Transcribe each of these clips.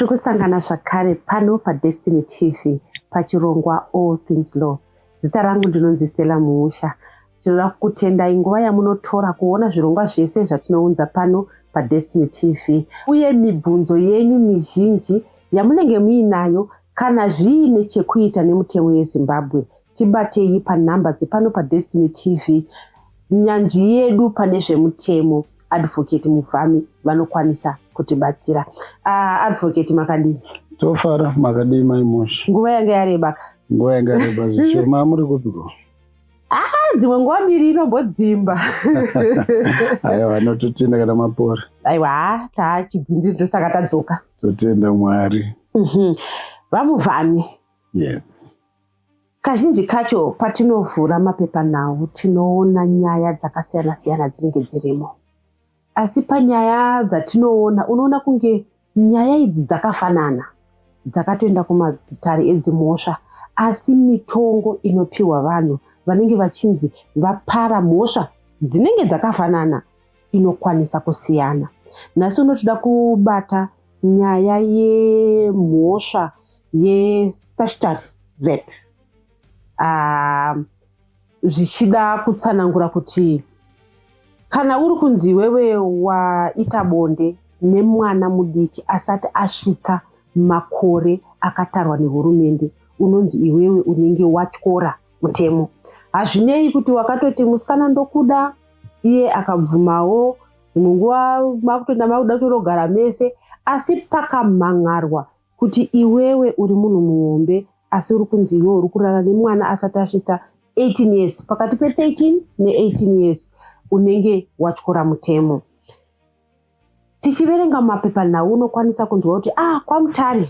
tiri kusangana zvakare pano padestiny tv pachirongwa all things law Zita rangu ndinonzi Stella Muusha. Tinoda kukutendai nguva yamunotora kuona zvirongwa zvese zvatinounza pano paDestiny TV uye mibvunzo yenyu mizhinji yamunenge muinayo kana zviine chekuita nemutemo yeZimbabwe tibatei panhamba dzepano paDestiny TV nyanzvi yedu pane zvemutemo advocate mubvami vanokwanisa kutibatsira uh, advocate makadii tofara makadii maimosha nguva yanga yareba ka nguva yanga yareba zvishoma muri kupiko ah, dzimwe nguva mbiri inombodzimba aiwa anototenda kana mapora aiwa ah, taa chigwindiri tosaka tadzoka totenda mwari mhm. vamuvhami yes Kazhinji kacho patinovhura mapepanhau tinoona nyaya dzakasiyana siyana dzinenge dzirimo, asi panyaya dzatinoona unoona kunge nyaya idzi dzakafanana, dzakatoenda kumadzitare edzimhosva, asi mitongo inopiwa vanhu vanenge vachinzi vapara mhosva dzinenge dzakafanana inokwanisa kusiyana. Nhasi uno tinoda kubata nyaya yemhosva yestatutory rape ah, zvichida uh, kutsanangura kuti kana uri kunzi iwewe waita bonde nemwana mudiki asati asvitsa makore akatarwa nehurumende unonzi iwewe unenge watyora mutemo hazvinei kuti wakatoti musikana ndokuda iye akabvumawo dzimwe nguva makutoenda makuda kutorogara mese asi pakamhan'arwa kuti iwewe uri munhu muhombe asi uri kunzi iwe uri kurara nemwana asati asvitsa 18 years pakati pe13 ne18 years unenge watyora mutemo Tichiverenga mumapepanhau unokwanisa kunzwa kuti ah, kwaMutare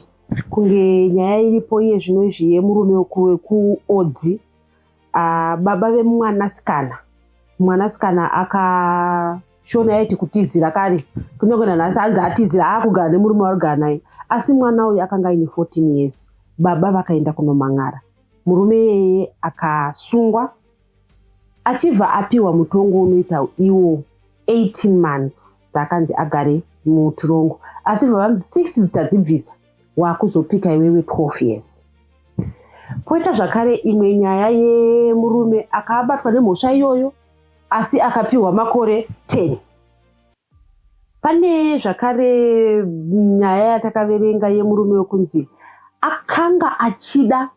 kunge nyaya iripo iye zvino izvi yemurume wekuodzi ah, baba vemwanasikana mwanasikana akashona yaiti kutizira kare kunyange nanhasi anzi atizira aakugara nemurume warugara naye asi mwana uyu akanga aine 14 years baba vakaenda kunomang'ara murume iyeye akasungwa achibva apiwa mutongo unoita iwo 18 months dzaakanzi agare mutirongo asi bva vanzi six dzitadzibvisa waakuzopika iwewe 12 years poita zvakare imwe nyaya yemurume akaabatwa nemhosva iyoyo asi akapiwa makore 10 pane zvakare nyaya yatakaverenga yemurume wekunzi akanga achida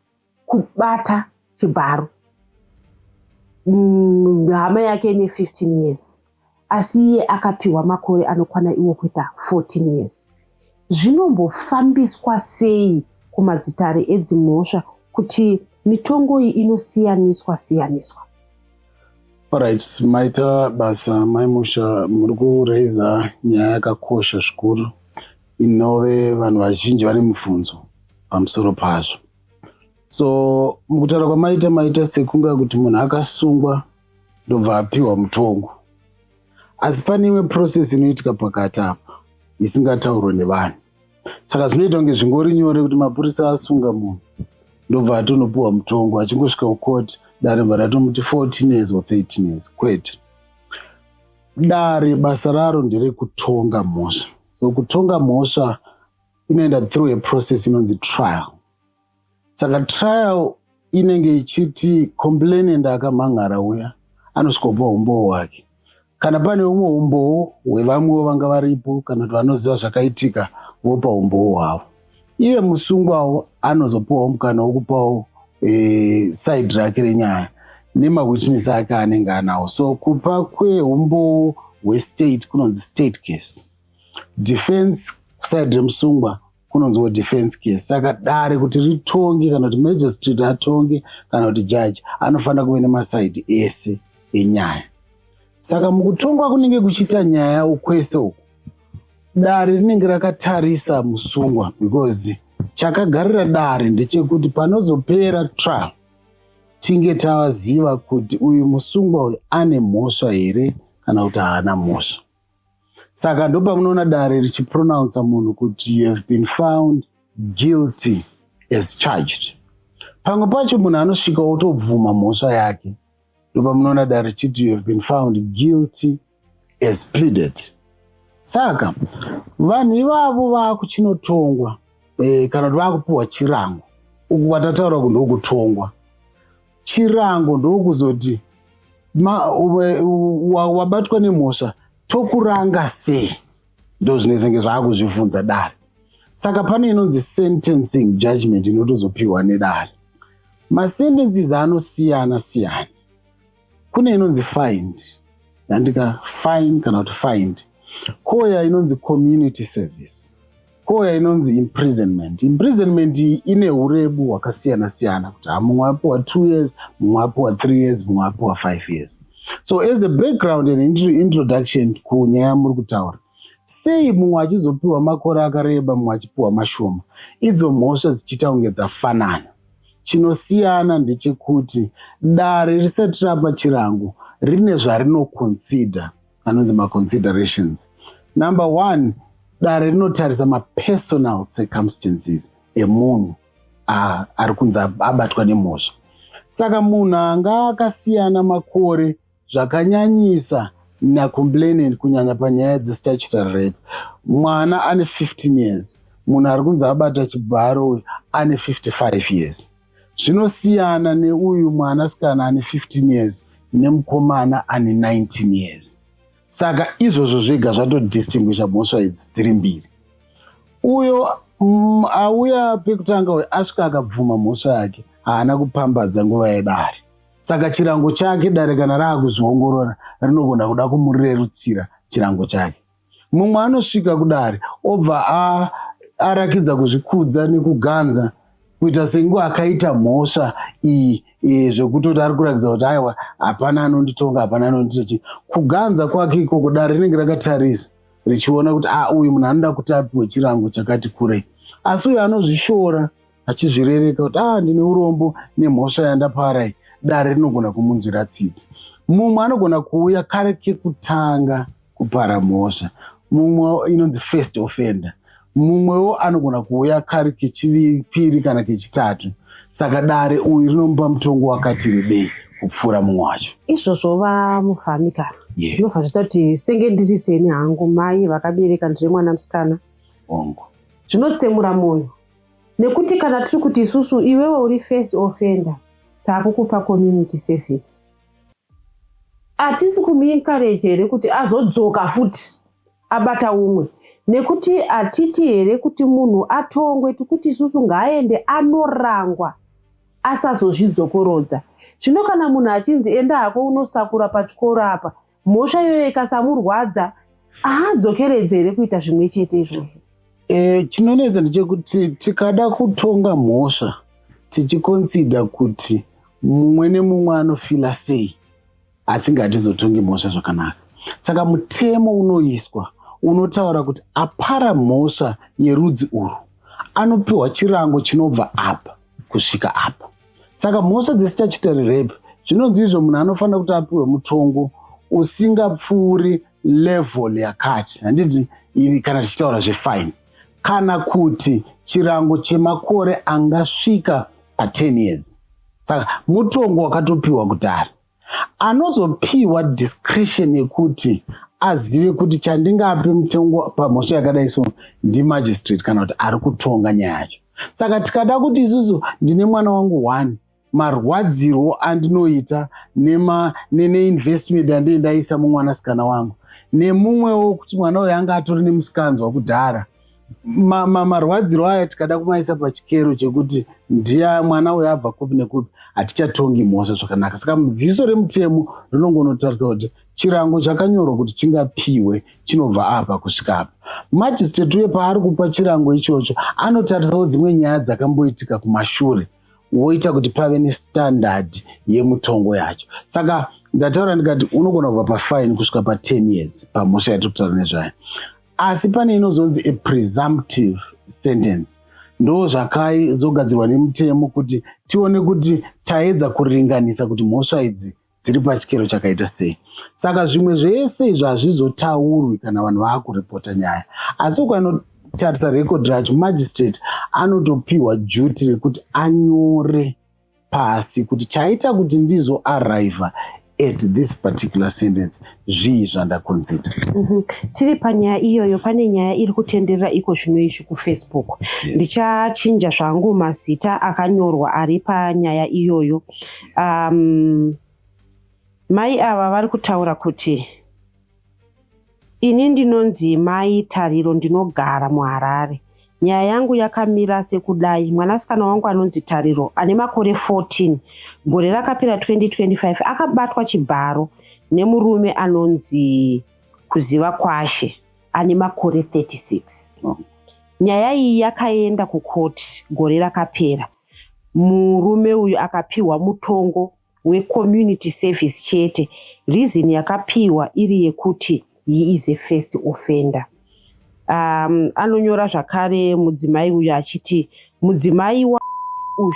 kubata chibharo mm, hama yake ine 15 years asi iye akapiwa makore anokwana iwo kuita 14 years zvinombofambiswa sei kumadzitare edzimhosva kuti mitongo iyi inosiyaniswa siyaniswa Alright, maita basa maimusha muri kuraiza nyaya yakakosha zvikuru inove vanhu vazhinji vane mubvunzo pamusoro pazvo so mukutaura kwamaita maita sekunga kuti munhu akasungwa ndobva apiwa mutongo asi pane imwe process inoitika pakati apa isingataurwe nevanhu saka zvinoita kunge zvingori nyore kuti mapurisa asunga munhu ndobva atonopiwa mutongo achingosvika kukoti dare bva ratomuti 14 years or 13 years kwete dare basa raro nderekutonga mhosva so kutonga mhosva inoenda through a process inonzi trial saka trial inenge ichiti complainant akamhan'ara uya anosvikopa umbowo hwake kana pane umwe umbowo hwevamwewo vanga varipo kana kuti vanoziva zvakaitika vopa umbowo hwavo iye musungwawo anozopiwawo mukana wokupawo e, side rake renyaya nemawitness ake anenge anawo so kupa kweumbowo hwestate kunonzi state case defense side remusungwa kunonziwo defense case saka dare kuti ritonge kana kuti magistrate atonge kana kuti judge anofanira kuve nemasaidi ese enyaya saka mukutongwa kunenge kuchiita nyaya ukwese uku dare rinenge rakatarisa musungwa because chakagarira dare ndechekuti panozopera trial tinge taziva kuti uyu musungwa uyu ane mhosva here kana kuti haana mhosva saka ndopamunoona dare richipronounsa munhu kuti you have been found guilty as charged pamwe pacho munhu anosvika otobvuma mhosva yake ndopamunoona dare richiti you have been found guilty as pleaded saka vanhu ivavo vakuchinotongwa e, kana kuti vakupiwa chirango uku kwatataura ku ndokutongwa chirango ndokuzoti wabatwa nemhosva tokuranga sei ndozvinezenge zvaakuzvivhunza dare saka pane inonzi sentencing judgment inotozopiwa nedare masentences anosiyana siyana kune inonzi find yandika fine kana kuti find koya inonzi community service koya inonzi imprisonment imprisonment ine urebu hwakasiyana siyana kuti mumwe apiwa two years mumwe apiwa three years mumwe apiwa five years so as a background and introduction kunyaya yamuri kutaura sei mumwe achizopiwa makore akareba mumwe achipiwa mashoma idzo mhosva dzichiita kunge dzafanana chinosiyana ndechekuti dare risati rapa chirango rine zvarinoconsider anonzi maconsiderations number one dare rinotarisa mapersonal circumstances emunhu ah, ari kunzi abatwa nemhosva saka munhu anga akasiyana makore zvakanyanyisa nacomplainant kunyanya panyaya dzestatutory rape mwana ane 15 years munhu ari kunzi abata chibharo uyu ane 55 years zvinosiyana neuyu mwanasikana ane 15 years nemukomana ane 19 years saka izvozvo zvega zvatodistinguisha mhosva idzi dziri mbiri uyo mm, auya pekutanga uyo asvika akabvuma mhosva yake haana kupambadza nguva yedare saka chirango chake dare kana raakuzviongorora rinogona kuda kumurerutsira chirango chake mumwe anosvika kudare obva arakidza kuzvikudza nekuganza kuita sengu akaita mhosva iyi e, zvekutoti ari kuratidza kuti aiwa hapana anonditonga hapana anondiita chii kuganza kwake ikoko dare rinenge rakatarisa richiona kuti a ah, uyu munhu anoda kuti apiwe chirango chakati kurei asi uyo anozvishora achizvirereka kuti a ah, ndine urombo nemhosva yandaparai dare rinogona kumunzwira tsitsi mumwe anogona kuuya kare kekutanga kupara mhosva mumwe inonzi first offender mumwewo anogona kuuya kari kechipiri kana kechitatu saka dare uyu rinomupa mutongo wakati rebei kupfuura mumwe wacho izvozvo vamufami kana zvinobva zvaita kuti senge ndiri seni hangu mai vakabereka ndiri mwana musikana ongo zvinotsemura munhu nekuti kana tiri kuti isusu iwewe uri first offender taakukupa community service atisi kumuencourage here kuti azodzoka futi abata umwe nekuti hatiti here kuti munhu atongwe tikuti isusu ngaaende anorangwa asazozvidzokorodza zvino kana munhu achinzi enda hako unosakura pachikoro apa mhosva iyoyo ikasamurwadza haadzokeredze here kuita zvimwe chete izvozvo e, chinonetsa ndechekuti tikada kutonga mhosva tichikonsida kuti mumwe nemumwe anofila sei i think hatizotongi mhosva zvakanaka saka mutemo unoiswa unotaura kuti apara mhosva yerudzi urwu anopiwa chirango chinobva apa kusvika apa saka mhosva dzestatutory rape zvinonzi izvo munhu anofanira kuti apiwe mutongo usingapfuuri level yakati handiti iri kana tichitaura zvefine kana kuti chirango chemakore angasvika pa10 years saka mutongo wakatopiwa kudhara anozopiwa discretion yekuti azive kuti chandingape mutongo pamhosva yakadai so ndimagistrate kana kuti ari kutonga nyaya yacho saka tikada kuti isusu ndine mwana wangu one marwadzirwo andinoita neinvestment yandindaisa mumwanasikana wangu nemumwewo kuti mwana uyo anga atori nemusikanzwa kudhara marwadziro ma, ma aya tikada kumaisa pachikero chekuti ndiya mwana uyo abva kupi nekupi hatichatongi mhosva zvakanaka saka ziso remutemo rinongonotarisa kuti chirango chakanyorwa kuti chingapiwe chinobva apa kusvika apa majisteti uye paari kupa chirango ichocho anotarisawo dzimwe nyaya dzakamboitika kumashure woita kuti pave nestandard yemutongo yacho saka ndataura ndikati unogona kubva pafaini kusvika pa10 years pamhosva yatiri kutaura nezvayo asi pane inozonzi a presumptive sentence ndo zvakai zogadzirwa nemutemo kuti tione kuti taedza kuringanisa kuti mhosva idzi dziri pachikero chakaita sei saka zvimwe zvese izvo hazvizotaurwi kana vanhu vaakuripota nyaya asi ukanotarisa rekodi racho magistrate anotopiwa juti rekuti anyore pasi kuti chaita kuti ndizo arriva at this particular sentence zvii zvandakonzida mm -hmm. tiri panyaya iyoyo pane nyaya iri kutenderera iko zvino izvi kufacebook yes. ndichachinja zvangu mazita akanyorwa ari panyaya iyoyo um, mai ava vari kutaura kuti Ini ndinonzi Mai Tariro ndinogara muHarare. Nyaya yangu yakamira sekudai, mwanasikana wangu anonzi Tariro ane makore 14 gore rakapera 2025 akabatwa chibharo nemurume anonzi Kuziva Kwashe ane makore 36. Nyaya iyi yakaenda kukoti gore rakapera, murume uyu akapiwa mutongo wecommunity service chete reason yakapiwa iri yekuti he is a first offender um, anonyora zvakare mudzimai uyu achiti mudzimai wa uyu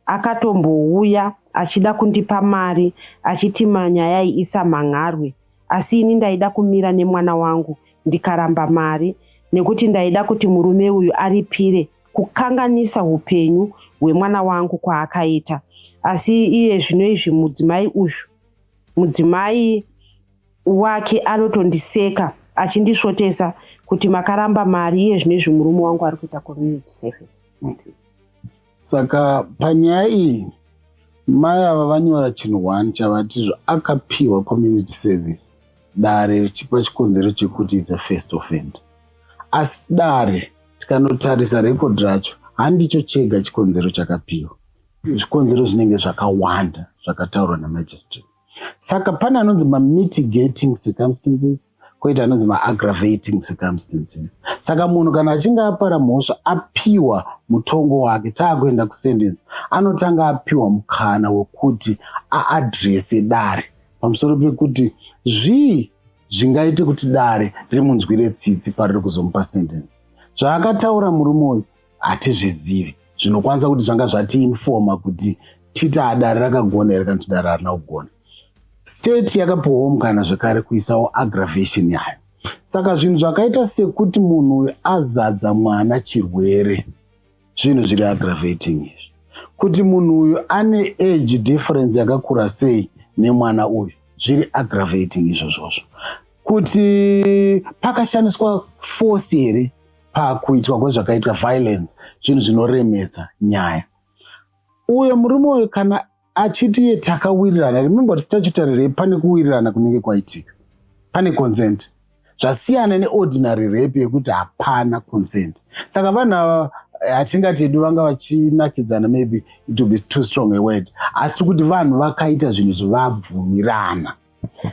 akatombouya achida kundipa mari achiti manyaya iisa manharwe asi ini ndaida kumira nemwana wangu ndikaramba mari nekuti ndaida kuti murume uyu aripire kukanganisa upenyu hwemwana wangu kwaakaita asi iye zvino izvi mudzimai uyu mudzimai wake anotondiseka achindisvotesa kuti makaramba mari iye zvino izvi murume wangu ari kuita community service okay. saka panyaya iyi mai ava vanyora chinhu one chavati zvo akapiwa community service dare chipa chikonzero chekuti is a first offend asi dare Tikanotarisa record racho handicho chega chikonzero chakapiwa, zvikonzero zvinenge zvakawanda zvakataurwa namagistrate. Saka pane anonzi mamitigating circumstances koita anonzi maaggravating circumstances saka munhu kana achinge apara mhosva apiwa mutongo wake taakuenda kusendence anotanga apiwa mukana wekuti aadrese dare pamusoro pekuti zvii zvingaite kuti dare rimunzwire tsitsi pariri kuzomupa sentence zvaakataura murume uyu hatizvizivi zvinokwanisa kuti zvanga zvatiinfoma kuti titi adare rakagona here kana kuti dare harina kugona state yakapiwawo mukana zvekare kuisawo aggravation yayo saka zvinhu zvakaita sekuti munhu uyu azadza mwana chirwere zvinhu zviri aggravating izvi kuti munhu uyu ane age difference yakakura sei nemwana uyu zviri aggravating izvozvozvo kuti pakashandiswa force here pakuitwa kwezvakaitwa violence zvinhu zvinoremesa nyaya uyo murume uyu kana achiti iye takawirirana remember kuti statutory rape pane kuwirirana kunenge kwaitika pane consent zvasiyana neordinary rape yekuti hapana consent saka vanhu ava hatingati eh, edu vanga vachinakidzana maybe it will be too strong a word asi kuti vanhu vakaita zvinhu zvavabvumirana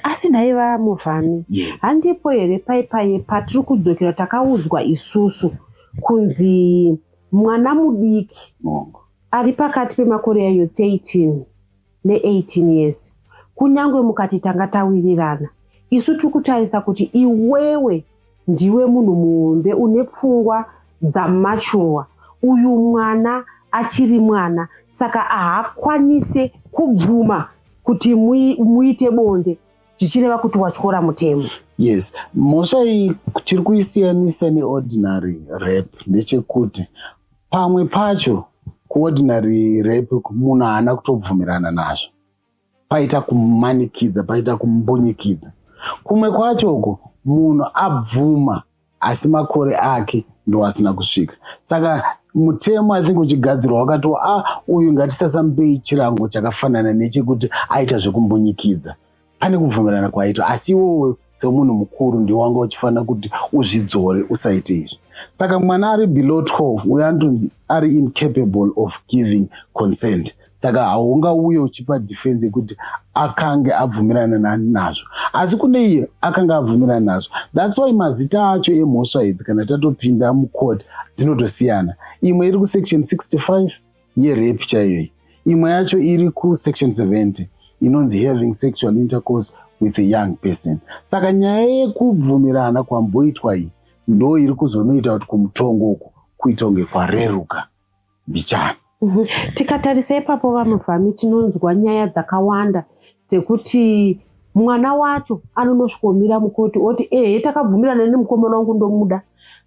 asi nhai vamuvhami handipo here paipaye patiri kudzokera takaudzwa isusu kunzi mwana mudiki Mongo. ari pakati pemakore yayo 13 ne18 years kunyange mukati tanga tawirirana isu tiri kutarisa kuti iwewe ndiwe munhu muhombe une pfungwa dzamachurwa uyu mwana achiri mwana saka haakwanise kubvuma kuti muite bonde zvichireva kuti watyora mutemo yes mhosva iyi chiri kuisiyanisa neordinary rap ndechekuti pamwe pacho kuordinary rape munhu haana kutobvumirana nazvo paita kumanikidza paita kumbunyikidza kumwe kwacho uko munhu abvuma asi makore ake ndo asina kusvika saka mutemo i think uchigadzirwa wakati a ah, uyu ngatisasamupei chirango chakafanana nechekuti aita zvekumbunyikidza pane kubvumirana kwaitwa asi iwowe semunhu mukuru ndiwo wanga uchifanira kuti uzvidzore usaite izvi saka mwana ari below 12 uyo anotonzi ari incapable of giving consent saka haungauye uchipa defense yekuti akange abvumirana nani nazvo asi kune iye akange abvumirana nazvo thats why mazita acho emhosva idzi kana tatopinda mucourt dzinotosiyana imwe iri kusection 65 yerape chaiyo iyi imwe yacho iri kusection 70 inonzi having sexual intercourse with a young person saka nyaya yekubvumirana kwamboitwa iyi ndo iri kuzonoita kuti kumutongo uku kuita kunge kwareruka mbichana mhm. tikatarisa ipapo vamuvhami tinonzwa nyaya dzakawanda dzekuti mwana wacho anonosvikomira mukoti oti ehe takabvumirana nemukomana wangu ndomuda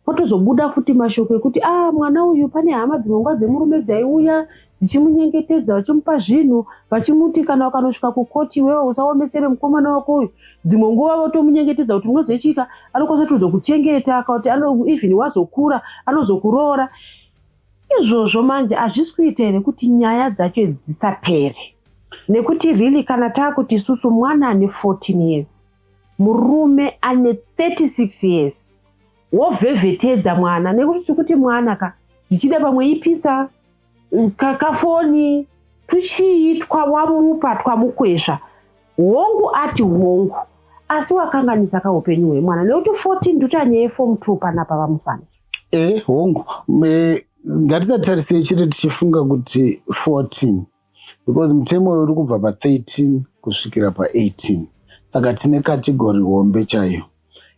potozobuda futi mashoko ekuti a ah, mwana uyu pane hama dzimwe nguva dzemurume dzaiuya dzichimunyengetedza vachimupa zvinhu vachimuti kana ukanosvika kukoti iwewe usaomesere mukomana wako uyu dzimwe nguva votomunyengetedza kuti munozoitika anokwanisa tozokutengeta akakuti even wazokura anozokuroora izvozvo manje hazvisi kuita here kuti nyaya dzacho dzisapere nekuti really kana taakuti isusu mwana ane 14 years murume ane 36 years wovhevhetedza mwana nekuti tikuti mwana ka zvichida pamwe ipitsa kafoni tuchii twawamupa twamukwezva hongu ati hongu asi wakanganisa kaupenyu hwemwana nekuti 14 ndutanyaya yefomu 2 panapa vamufana e hongu e, ngatisatarisei chete tichifunga kuti 14 because mutemo uyo uri kubva pa13 kusvikira pa18 saka tine kategori hombe chaiyo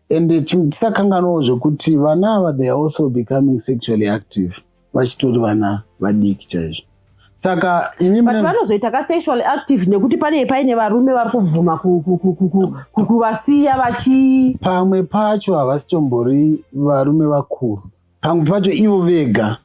and tisakanganwawo zvekuti vana ava they are also becoming sexually active vachitori vana vadiki chaizvo saka ini but vanozoita ka sexual active nekuti pane paine varume vari kubvuma kuvasiya vachi pamwe pacho havasitombori varume vakuru pamwe pacho ivo vega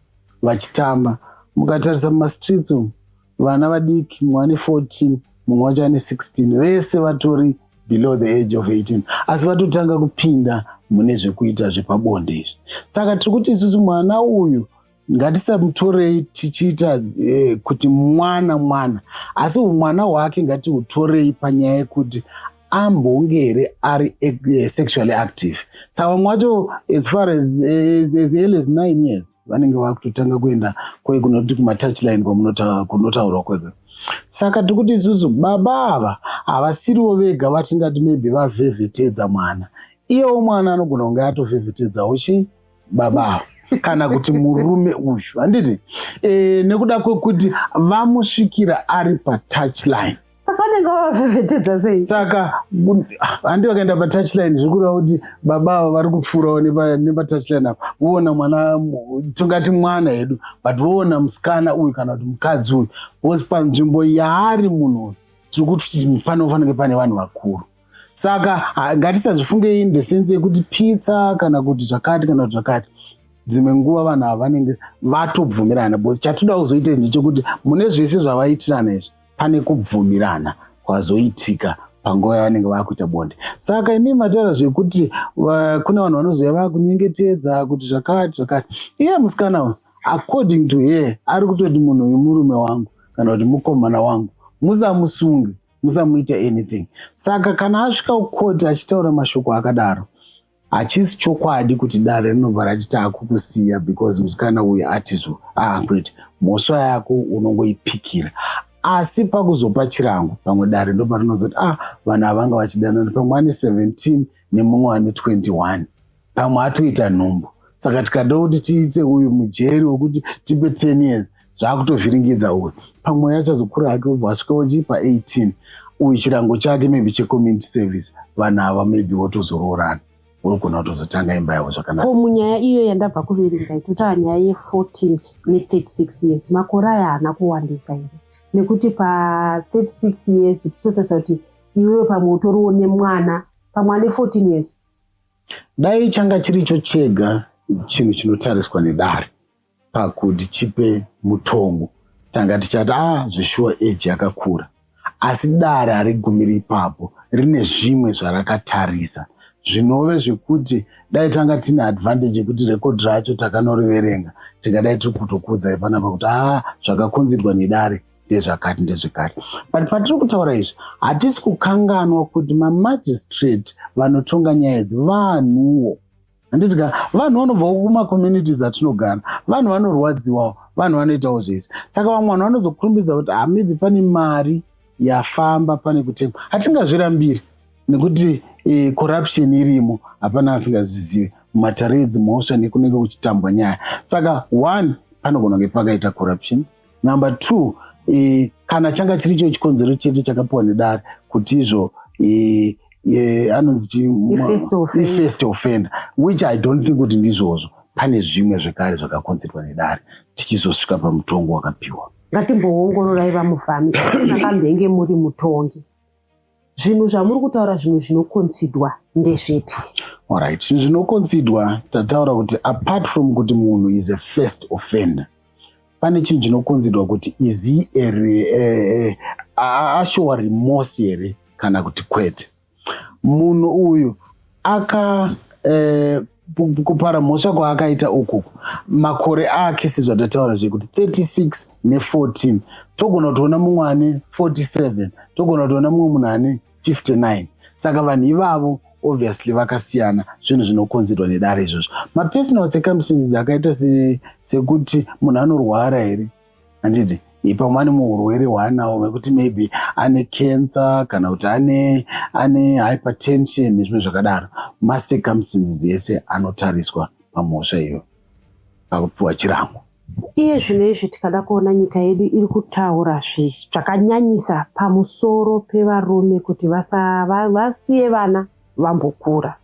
vachitamba mukatarisa mumastreets umu vana vadiki mumwe ane 14 mumwe wacho ane 16 vese vatori below the age of 18 asi vatotanga kupinda mune zvekuita zvepabonde izvi saka tiri kuti isusu mwana uyu ngatisamutorei tichiita eh, kuti mwana mwana asi umwana hwake ngatiutorei panyaya yekuti ambonge here ari eh, sexually active tsawamwe wacho as far as, as, as early as nine years vanenge vakutotanga kuenda kwe kunoti kumatouchline kwamunotaurwa kwega saka tiri kuti isusu baba ava havasiriwo vega vatingati maybe vavhevhetedza mwana iyewo mwana anogona kunge atovhevhetedzawo chii baba kana kuti murume uyu handiti e, nekuda kwekuti vamusvikira ari patouchline saka vanenge vavavhevhetedza sei saka handi ah, vakaenda patouchline zviri kureva kuti baba ava vari kupfuurawo nepatouchline apa voona mwana tingati mwana hedu but voona musikana uyu kana kuti mukadzi uyu bcause panzvimbo yaari munhu uyu tiri kuti panofanike pane vanhu vakuru saka ngatisazvifunge in the sense yekuti pizza kana kuti zvakati kana kuti zvakati dzimwe nguva vanhu ava vanenge vatobvumirana bcause chatoda kuzoita nje chekuti mune zvese zvavaitirana izvi pane kubvumirana kwazoitika panguva yavanenge vakuita bonde saka imi mataura zvekuti kune vanhu vanozouya vakunyengetedza kuti zvakati zvakati iye musikana uyu according to her ari kutoti munhu uyu murume wangu kana kuti mukomana wangu musamusunge musamuita anything saka kana asvika kukoti achitaura mashoko akadaro hachisi chokwadi kuti dare rinobva rati taakukusiya because musikana uyu atizvo ahakwete ah, mhosva yako unongoipikira asi pakuzopa chirango pamwe dare ndoparinozoti ah vanhu havanga vachidanana pamwe ane 17 nemumwe ane 21 pamwe atoita nhumbu saka tikada kuti tiite uyu mujeri wekuti tipe 10 years zvaakutovhiringidza uyu pamwe achazokura hake obva asvika ochipa 18 uyu chirango chake maybe checommunity service vanhu ava maybe votozoroorana wogona kutozotanga imba yavo zvakanaka ko munyaya iyo yandabva kuverenga itotaura nyaya ye14 ne36 years makore aya haana kuwandisa here nekuti pa36 years tichitotarisa kuti iwewe pamwe utoriwo nemwana pamwe ane 14 years Dai changa chiricho chega chinhu chinotariswa nedare pakuti chipe mutongo tanga tichati a ah, zveshuwa eji yakakura asi dare harigumiri ipapo rine zvimwe zvarakatarisa zvinove zvekuti dai tanga tine advantage yekuti rekodhi racho takanoriverenga tingadai tiri kutokuudzai panapa kuti a ah, zvakakonzerwa nedare ndezvakati ndezvekati but patiri kutaura izvi hatisi kukanganwa kuti mamagistrate vanotonga nyaya idzi vanhuwo handiti ka vanhu vanobvawo kumacommunities atinogara vanhu vanorwadziwawo vanhu vanoitawo zvese saka vamwe vanhu vanozokurumbidza kuti ha ah, maybe pane mari yafamba pane kutengwa hatingazvirambiri nekuti e, corruption irimo hapana asingazvizivi mumatare edzimhosva nekunenge kuchitambwa nyaya saka one panogona kunge pakaita corruption number two e, kana changa chiri cho chikonzero chete chakapiwa nedare kuti izvo e, e, anonzi chifirst offender which i don't think kuti ndizvozvo pane zvimwe zvekare zvakakonzerwa nedare tichizosvika pamutongo wakapiwa ngatimboongororai vamufami nakamhenge muri mutongi Zvinhu zvamuri kutaura zvimwe zvinokonsidwa ndezvipi? Alright, zvinhu zvinokonsidwa tataura kuti apart from kuti munhu is a first offender pane chinhu chinokonzidwa kuti is he eh, ashowa remorse here kana kuti kwete munhu uyu aka eh, kupara mhosva kwaakaita uku makore ake sezvatataura zvekuti 36 ne14 togona kutoona mumwe ane 47 togona kutoona mumwe munhu ane 59 saka vanhu ivavo obviously vakasiyana zvinhu zvinokonzerwa nedare izvozvo mapersonal circumstances akaita sekuti munhu anorwara here handiti ipa mani muurwere hwaanawo vekuti maybe ane cancer kana kuti ane ane hypertension nezvimwe zvakadaro macircumstances ese anotariswa pamhosva iyo pakupiwa chirango iye zvino izvi tikada kuona nyika yedu iri kutaura zvakanyanyisa pamusoro pevarume kuti vasiye vana vambokura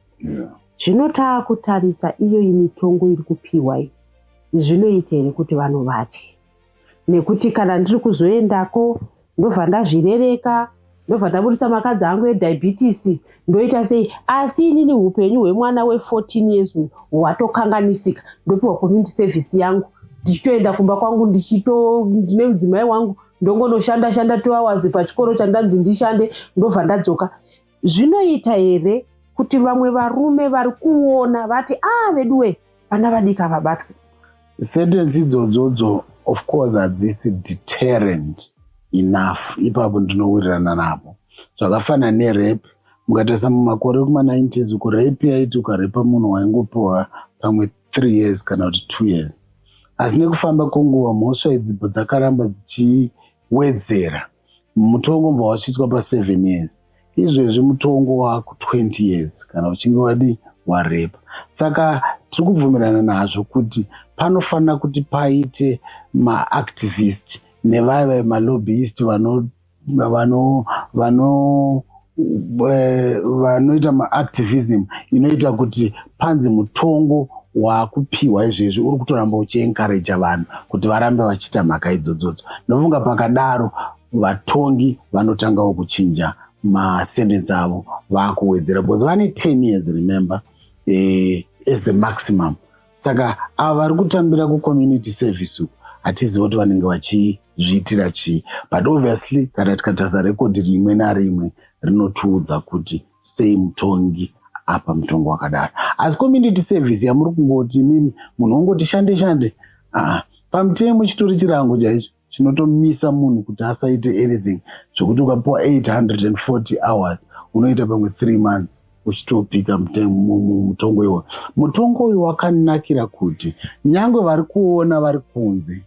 Zvino taakutarisa iyoyi mitongo iri kupiwa iyi zvinoita here kuti vanhu vatye nekuti kana ndiri kuzoendako ndobva ndazvirereka ndobva ndaburitsa makadzi angu ediabetes ndoita sei asi inini upenyu hwemwana we14 years uyu hwatokanganisika ndopiwa community service yangu ndichitoenda kumba kwangu ndichito ndine mudzimai wangu ndongonoshanda shanda two hours pachikoro chandanzi ndishande ndobva ndadzoka Zvinoita here kuti vamwe varume vari kuona vati ah veduwe vana vadika vabatwe? Sentensi idzodzodzo of course hadzisi deterrent enough ipapo ndinowirirana navo zvakafanana nerape mukatarisa mumakore ekuma90s uko rape yaiti ukarepa munhu waingopiwa pamwe three years kana kuti two years asi nekufamba kwenguva mhosva idzipo dzakaramba dzichiwedzera mutongo mbwa wachiiswa paseven years izvezvi mutongo waku 20 years kana uchinge wadi warepa saka tiri kubvumirana nazvo kuti panofanira kuti paite maactivist nevaya vaye malobbyist vano vano vano eh, vanoita maactivism inoita kuti panzi mutongo wakupiwa izvezvi uri kutoramba uchienkareja vanhu kuti varambe vachiita mhaka idzodzodzo ndofunga pakadaro vatongi vanotangawo kuchinja masendensi avo vakuwedzera because vane 10 years remember eh, as the maximum saka ava vari kutambira kucommunity service uku hatiziva kuti vanenge vachizviitira chii but obviously kana tikatasa rekodhi rimwe narimwe rinotiudza kuti sei mutongi apa mutongo wakadaro asi community service yamuri kungoti imimi munhu wongoti shande shande aa pamutemo chitori chirango chaicho chinotomisa munhu kuti asaite anything zvekuti ukapiwa 840 hours unoita pamwe 3 months uchitopika mutongo iwoyo mutongo uyu wakanakira kuti nyange vari kuona vari kunze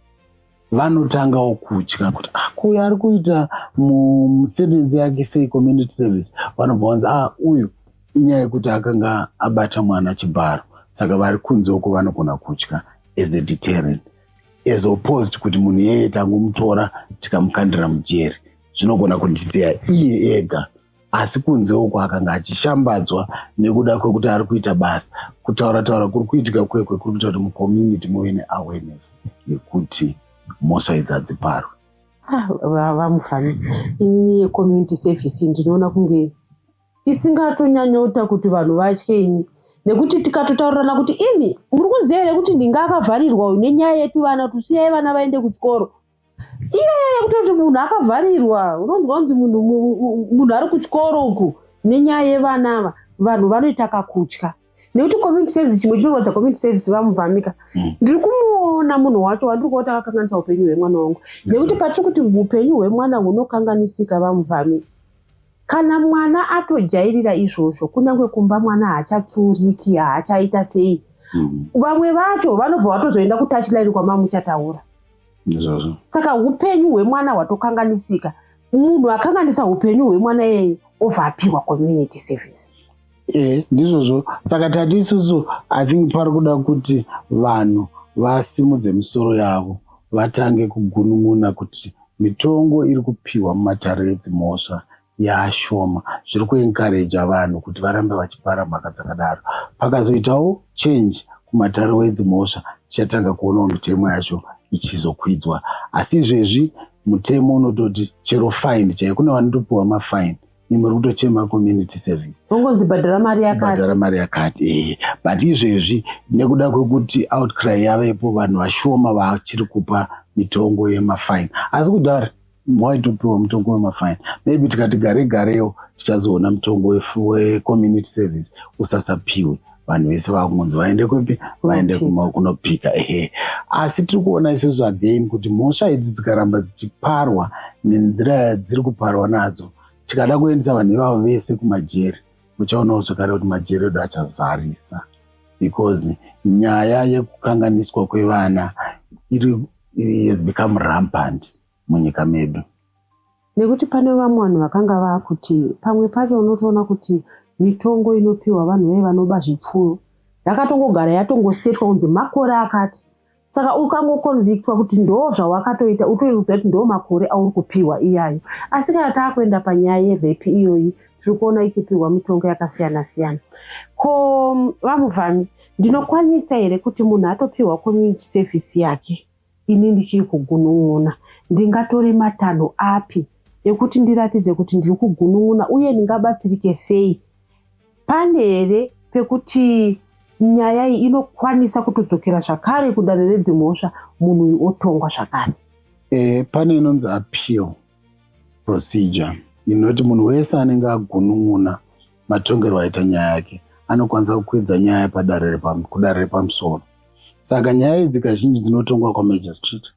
vanotangawo kutya kuti akuyo ah, ari kuita musevenzi yake sei community service vanobva vanzi a ah, uyu inyaya yekuti akanga abata mwana chibharo saka vari kunze uko vanogona kutya as a deterrent as opposed kuti munhu iyeye tangomutora tikamukandira mujeri zvinogona kunditeya iye ega asi kunze uko akanga achishambadzwa nekuda kwekuti ari kuita basa kutaura taura kuri kuitika kwekwe kuri kuita kuti mucommunity muve neawareness yekuti mhosva idzi hadziparwe ah, vamufana ini yecommunity service ndinoona kunge isingatonyanyoita kuti vanhu vatye ini nekuti tikatotaurirana kuti imi muri kuziva here kuti ndinga akavharirwa uyu nenyaya yetuvana kuti siyai vana vaende kuchikoro iyaya yekutoti munhu akavharirwa unonzwa kunzi munhu ari kuchikoro uku nenyaya yevana ava vanhu vanoita kakutya nekuti community service chimwe chinorwadza community service vamubvamika mm. ndiri kumuona munhu wacho wandiri kuona takakanganisa upenyu hwemwana wangu nekuti patiri kuti upenyu hwemwana hunokanganisika vamubvamika Kana mwana atojairira izvozvo kunyange kumba mwana haachatsuuriki haachaita sei mm. vamwe mm. vacho vanobva vatozoenda kutachline kwamamuchataura izvozvo saka upenyu hwemwana hwatokanganisika munhu akanganisa upenyu hwemwana iyeye obva apiwa community service e ndizvozvo saka tati isusu i think pari kuda kuti vanhu vasimudze misoro yavo vatange kugunun'una kuti mitongo iri kupiwa mumatare edzimhosva yaashoma zviri kuenkareja vanhu kuti varambe vachipara mhaka dzakadaro pakazoitawo change kumatare wedzimhosva tichatanga kuonawo mitemo yacho ichizokwidzwa asi izvezvi mutemo unototi chero fine chaiyo kune vanotopiwa mafine ni muri kutochema community service ungonzi bhadhara mari yakati bhadhara mari yakati eh but izvezvi nekuda kwekuti outcry yavepo vanhu vashoma vachiri kupa mitongo yemafine asi kudhara waitopiwa mutongo wemafine maybe tikati gare garewo tichazoona mutongo wecommunity service usasapiwe vanhu vese vakungonzi vaende kupi vaende kunopika ehe asi tiri kuona isusu again kuti mhosva idzi dzikaramba dzichiparwa nenzira yadziri kuparwa nadzo tikada kuendesa vanhu ivavo vese kumajeri muchaonawo zvakare kuti majeri edu achazarisa because nyaya yekukanganiswa kwevana iri has become rampant munyika medu Nekuti pane vamwe vanhu vakanga vakuti pamwe pacho unotoona kuti mitongo inopiwa vanhu vaye vanoba zvipfuyo yakatongogara yatongosetwa kunzi makore akati saka ukangoconvictwa kuti ndo zvawakatoita utoiudza kuti ndo makore auri kupiwa iyayo asi kana taakuenda panyaya yerepi iyoyi tiri kuona ichipiwa mitongo yakasiyana siyana ko vamuvhami ndinokwanisa here kuti munhu atopiwa community service yake Ini ndichiri kugunun'una, ndingatore matanho api ekuti ndiratidze kuti ndiri kugunun'una uye ndingabatsirike sei? Pane here pekuti nyaya iyi inokwanisa kutodzokera zvakare kudare redzimhosva munhu uyu otongwa zvakare? E, pane inonzi appeal procedure inoti munhu wese anenge agunun'una matongerwo aita nyaya yake anokwanisa kukwidza nyaya padare kudare repamusoro saka nyaya idzi kazhinji dzinotongwa kwamagistrate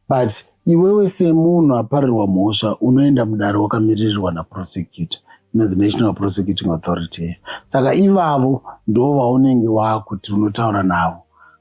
but iwewe semunhu aparirwa mhosva unoenda mudare wakamiririrwa naprosecutor inonzi national prosecuting authority saka ivavo ndo vaunenge waakuti unotaura navo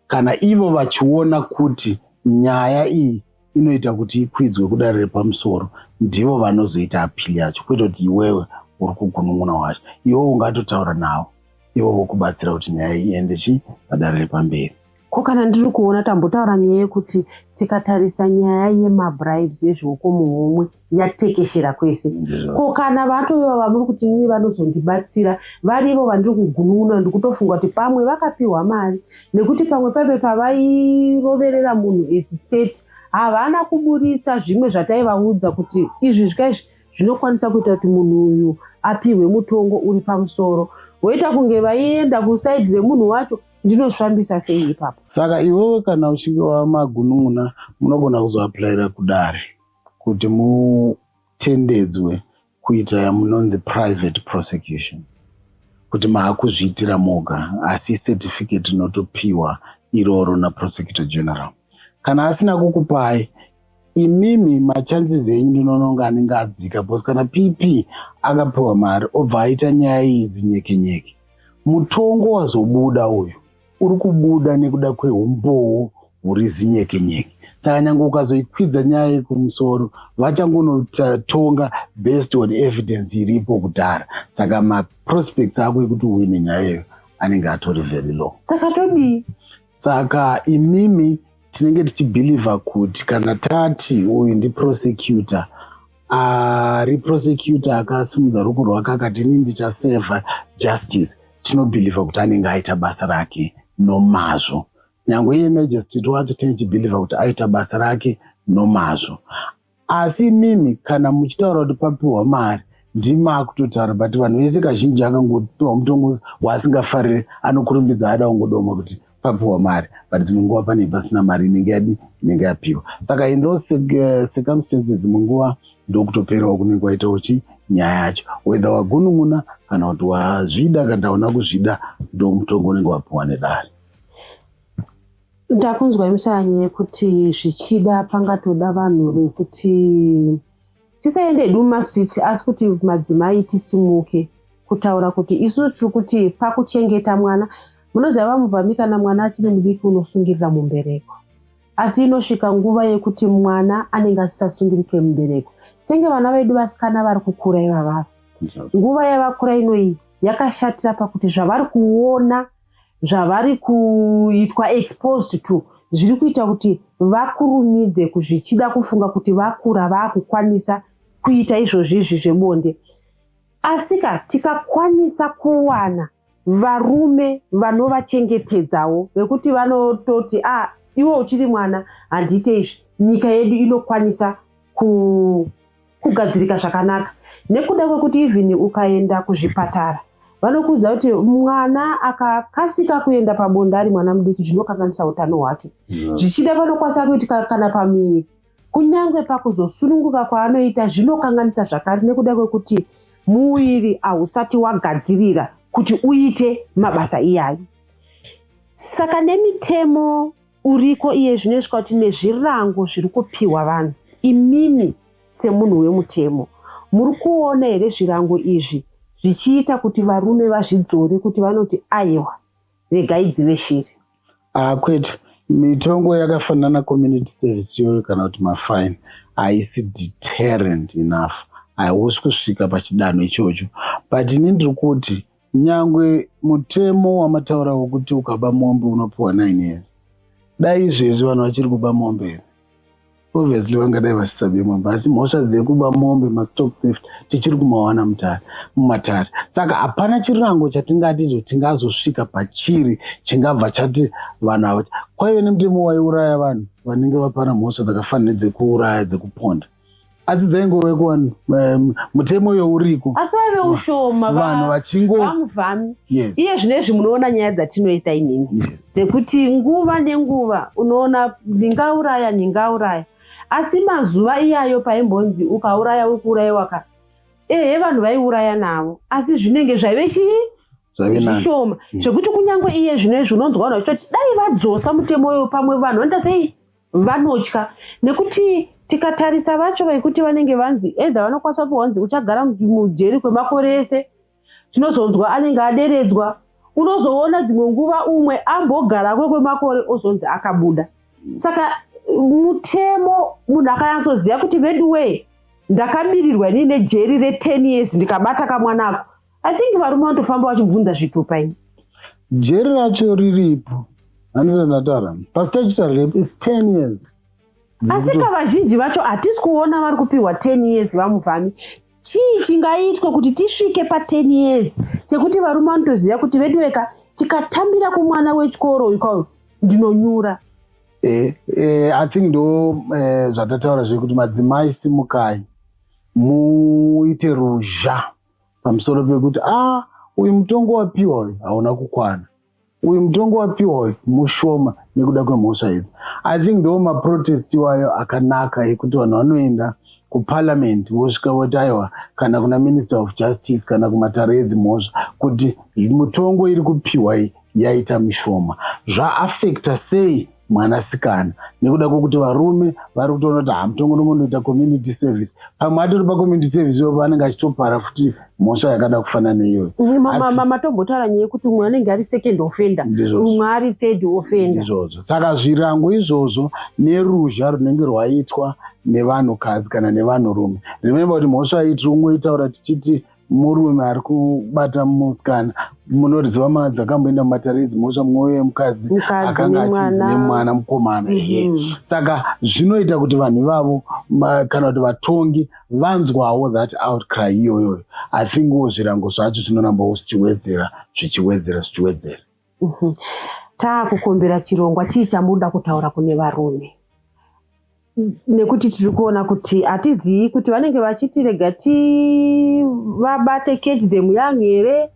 kana ivo vachiona kuti nyaya iyi inoita kuti ikwidzwe kudare repamusoro ndivo vanozoita apili yacho kwete kuti iwewe uri kugunun'una wacho iwewe ungatotaura navo ivo vokubatsira kuti nyaya iende chii padare repamberi ko kana ndiri kuona tambotaura nyaya yekuti tikatarisa nyaya yemabribes yezvioko muhomwe yatekeshera kwese ko kana vatoiva vamuri kuti nini vanozondibatsira varivo vandiri kugunun'una ndikutofunga kuti pamwe vakapiwa mari nekuti pamwe paive pavairoverera munhu as state havana kuburitsa zvimwe zvataivaudza kuti izvi zvikaizvi zvinokwanisa kuita kuti munhu uyu apihwe mutongo uri pamusoro woita kunge vaienda kusaidi remunhu wacho ndinozvifambisa sei ipapo saka iwewe kana uchinge wamagunun'una munogona kuzoaplaira kudare kuti mutendedzwe kuita yamunonzi private prosecution kuti maakuzviitira moga asi certificate inotopiwa iroro naprosecutor general kana asina kukupai imimi machances enyu ndinononga anenge adzika bcause kana pp akapiwa mari obva aita nyaya iyi zinyekenyeke mutongo wazobuda uyu uri kubuda nekuda kwehumbowo huri zinyekenyeke saka nyange ukazoikwidza nyaya yekumusoro vachangonotonga based on evidence iripo kudhara saka maprospects ako ekuti uve nenyaya iyo anenge atori very low saka todii saka imimi tinenge tichibhilivha kuti kana tati uyu ndiprosecutor ari uh, prosecutor akasimudza ruko rwake akati ini ndichaseva justice tinobhilivha kuti anenge aita basa rake nomazvo nyange iye majestit wacho tinichibhilivha kuti aita basa rake nomazvo asi imimi kana muchitaura kuti papiwa mari ndimakutotaura but vanhu vese kazhinji akangopiwa mutongo waasingafariri anokurumbidza ada kungodoma kuti papiwa mari but dzimwe nguva pane pasina mari inenge yadi inenge yapiwa saka in those eh, circumstances dzimwe nguva ndokutoperawo kunenge kwaitawo chi nyaya yacho wether wagunun'una kana kuti wazvida kana taona kuzvida ndo mutongo unenge wapiwa nedare ndakunzwa imuchanye kuti zvichida pangatoda vanhu vekuti tisaende hedu mumastreet asi kuti madzimai tisimuke kutaura kuti isu tiri kuti pakuchengeta mwana munoziva vamubvami kana mwana achiri mudiki unosungirira mumbereko asi inosvika nguva yekuti mwana anenge asisasungirike mumbereko senge vana vedu vasikana vari kukura ivavava nguva yavakura inoiyi yakashatira pakuti zvavari kuona zvavari kuitwa exposed to zviri kuita kuti vakurumidze kuzvichida kufunga kuti vakura vakukwanisa kuita izvozvi izvi zvebonde asika tikakwanisa kuwana varume vanovachengetedzawo vekuti vanototi a ah, iwe uchiri mwana handiite izvi nyika yedu inokwanisa ku kugadzirika zvakanaka nekuda kwekuti even ukaenda kuzvipatara vanokuudza kuti mwana akakasika kuenda pabonde ari mwana mudiki zvinokanganisa utano hwake mm. zvichida vanokwanisa kuitika kana pamiri kunyange pakuzosununguka kwaanoita zvinokanganisa zvakare nekuda kwekuti muviri hausati wagadzirira kuti uite mabasa iyayo saka nemitemo uriko iye zvino isvika kuti nezvirango zviri kupiwa vanhu imimi semunhu wemutemo muri kuona here zvirango izvi zvichiita kuti varume vazvidzore kuti vanoti aiwa regai dzive shiri ah, kwetu mitongo yakafanana community service yoyo kana kuti mafine haisi deterrent enough hausi kusvika pachidanho ichocho but ini ndiri kuti nyangwe mutemo wamataura wokuti ukaba mombe unopiwa 9 years dai izvezvi vanhu vachiri kuba mombe here obviously vangadai vasisabe mombe asi mhosva dzekuba mombe mastock theft tichiri kumawana mutare mumatare saka hapana chirango chatingati izvo tingazosvika pachiri chingabva chati vanhu ava kwaive nemutemo waiuraya vanhu vanenge vapana mhosva dzakafanira nedzekuuraya dzekuponda asi dzaingove kuvanhu um, mutemo uyo uriko asi vaive ushoma vanhu vachingomuvami yes. iye zvino izvi munoona nyaya dzatinoita inini yes. dzekuti nguva nenguva unoona ndingauraya ndingauraya asi mazuva iyayo paimbonzi ukauraya uri kuurayiwa ka ehe vanhu vaiuraya navo asi zvinenge zvaive chii zvishoma mm. zvekuti kunyange iye zvino izvi unonzwa vanhu vachitoti dai vadzosa mutemo uyo pamwe vanhu vanoita sei vanotya nekuti tikatarisa vacho vaikuti vanenge vanzi edha vanokwanisa kupiwa hanzi uchagara mujeri kwemakore ese tinozonzwa anenge aderedzwa unozoona dzimwe nguva umwe ambogara kwe kwemakore ozonzi akabuda saka mutemo munhu akanyatsoziva kuti veduwee ndakamirirwa inii nejeri re10 years ndikabata kamwanako I think varume vanotofamba vachibvunza zvitupa ini. Jeri racho riripo. Handizvo ndataura. Pastachitaura repo is 10 years. Asi ka vazhinji vacho hatisi kuona vari kupiwa 10 years vamuvhami. Chii chingaitwe kuti tisvike pa 10 years chekuti varume vanotoziva kuti vedu veka tikatambira kumwana wechikoro uyu kwavo ndinonyura. Eh, eh, I think ndo eh, zvatataura zvekuti madzimai simukai muite ruzha pamusoro pekuti ah uyu mutongo wapiwa uyu hauna kukwana uyu mutongo wapiwa uyu mushoma nekuda kwemhosva idzi i think ndo maprotest iwayo akanaka ekuti vanhu vanoenda kuparliament vosvika voti aiwa kana kuna minister of justice kana kumatare edzimhosva kuti mutongo iri kupiwa iyi yaita mishoma zvaafekta sei mwanasikana nekuda kwekuti varume vari kutoona kuti hamutongononoita community service pamwe atori pacommunity service ivo vanenge achitopara futi mhosva yakada kufanana neiyoyo matombotaura nyaya yekuti umwe anenge ari second offender umwe ari third offender izvozvo saka zvirango izvozvo neruzha runenge rwaitwa nevanhukadzi kana nevanhurume rememba kuti mhosva iyi tiri kungoitaura tichiti murume ari kubata musikana munoriziva mwana dzakamboenda mumatare idzi mosva mwoyo yemukadzi akanga achinzi nemwana mukomana mhm. ehe saka zvinoita kuti vanhu ivavo kana kuti vatongi vanzwawo that outcry iyoyoyo i think wo zvirango zvacho zvinoramba wo zvichiwedzera zvichiwedzera zvichiwedzera Uhuh. Taakukumbira chirongwa chii chamunoda kutaura kune varume nekuti tiri kuona kuti hatizivi kuti vanenge vachiti rega tivabate catch them young here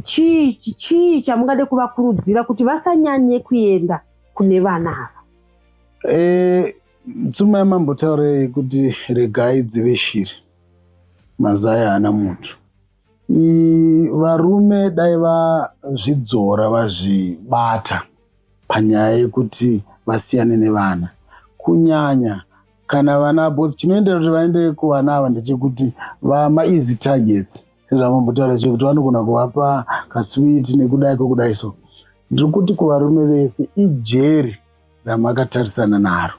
chii chii chamungade kuvakurudzira kuti vasanyanye kuenda kune vana ava e, tsuma yamambotaurei kuti regai dzive shiri mazaya haana muntu varume dai vazvidzora vazvibata panyaya yekuti vasiyane nevana kunyanya kana vana bos chinoendera kuti vaende kuvana ava ndechekuti vamaeasy targets sezvamambotaura chekuti vanogona kuvapa kaswiti nekudai kwekudai so ndiri kuti kuvarume vese ijeri ramakatarisana naro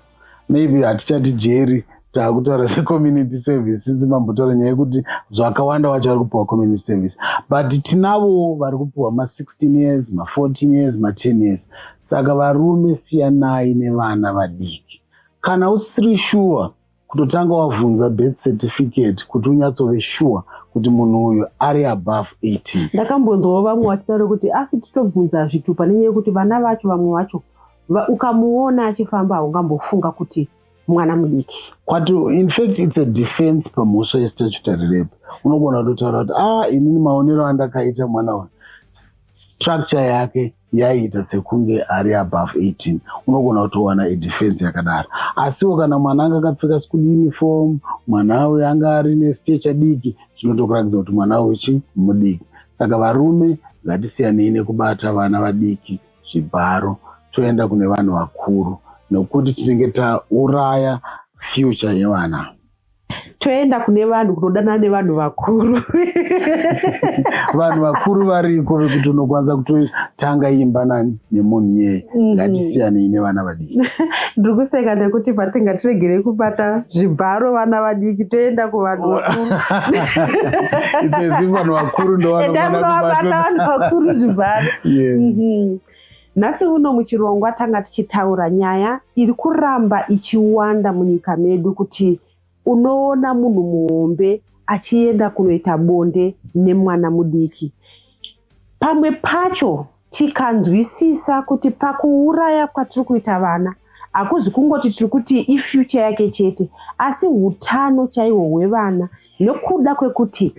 maybe hatichati jeri takutaura zvecommunity service since mambotaura nyaya yekuti zvakawanda wacho vari kupiwa community service but tinavo vari kupiwa ma16 years ma14 years ma10 years saka varume siyanai nevana vadiki kana usiri shuwa kutotanga wavhunza birth certificate kuti unyatsove sure kuti munhu uyu ari above 18 ndakambonzwawo vamwe vachidaro kuti asi titobvunza zvitupa nenyaya yekuti vana vacho vamwe vacho ukamuona achifamba haungambofunga kuti mwana mudiki kwati infact its a defense pamhosva yestatutory rape unogona kutotaura kuti a ah, inini maonero andakaita mwana uyu structure yake yaiita sekunge ari above 18 unogona kutowana idefense yakadaro asiwo kana mwana anga akapfeka school uniform mwana uyo anga ari nestecha diki zvinotokuratidza kuti mwana uyo chi mudiki saka varume ngatisiyanei nekubata vana vadiki zvibharo toenda kune vanhu vakuru nokuti tinenge tauraya future yevana toenda kune vanhu kunodanana nevanhu vakuru vanhu vakuru variko vekuti unokwanisa kutotanga imba nani nemunhu yeye mhm. ngatisiyanei nevana vadiki ndiri kuseka nekuti patinga tiregere kubata zvibharo vana vadiki toenda kuvanhu vakuru idzezi vanhu vakuru ndovanovabata vanhu vakuru zvibharo mhm. Nhasi uno muchirongwa tanga tichitaura nyaya iri kuramba ichiwanda munyika medu kuti unoona munhu muhombe achienda kunoita bonde nemwana mudiki. Pamwe pacho tikanzwisisa kuti pakuuraya kwatiri kuita vana hakuzi kungoti tiri kuti ifyucha yake chete asi utano chaiwo hwevana nekuda kwekuti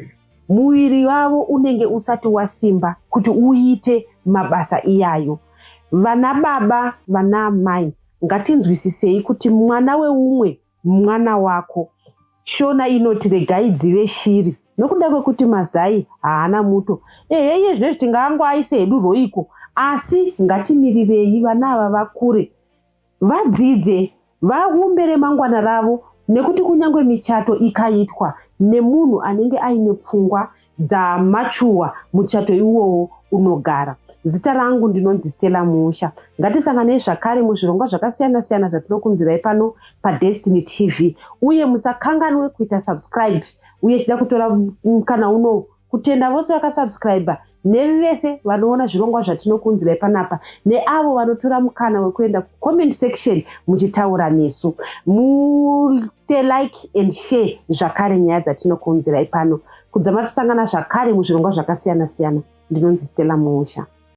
Muviri wavo unenge usati wasimba kuti uite mabasa iyayo. Vana baba, vana amai, ngatinzwisisei kuti mwana weumwe mwana wako. Shona inoti regai dzive shiri nokuda kwekuti mazai haana muto. Ehe, iye zvinezvi tingaangoaise hedu roiko, asi ngatimirirei vana ava vakure Vadzidze, vaumbe remangwana ravo nekuti kunyange michato ikaitwa nemunhu anenge aine pfungwa dzamachuwa muchato iwowo unogara. Zita rangu ndinonzi Stella Musha. Ngatisanganei zvakare muzvirongwa zvakasiyana siyana zvatinokunzirai pano paDestiny TV uye musakanganwe kuita subscribe uye tida kutora mukana uno kutenda vose vakasubscriber nemi vese vanoona zvirongwa zvatinokuunzirai panapa neavo vanotora mukana wekuenda kucomment section muchitaura nesu mute like and share zvakare nyaya dzatinokuunzirai pano kudzama tisangana zvakare muzvirongwa zvakasiyana siyana ndinonzi stella muusha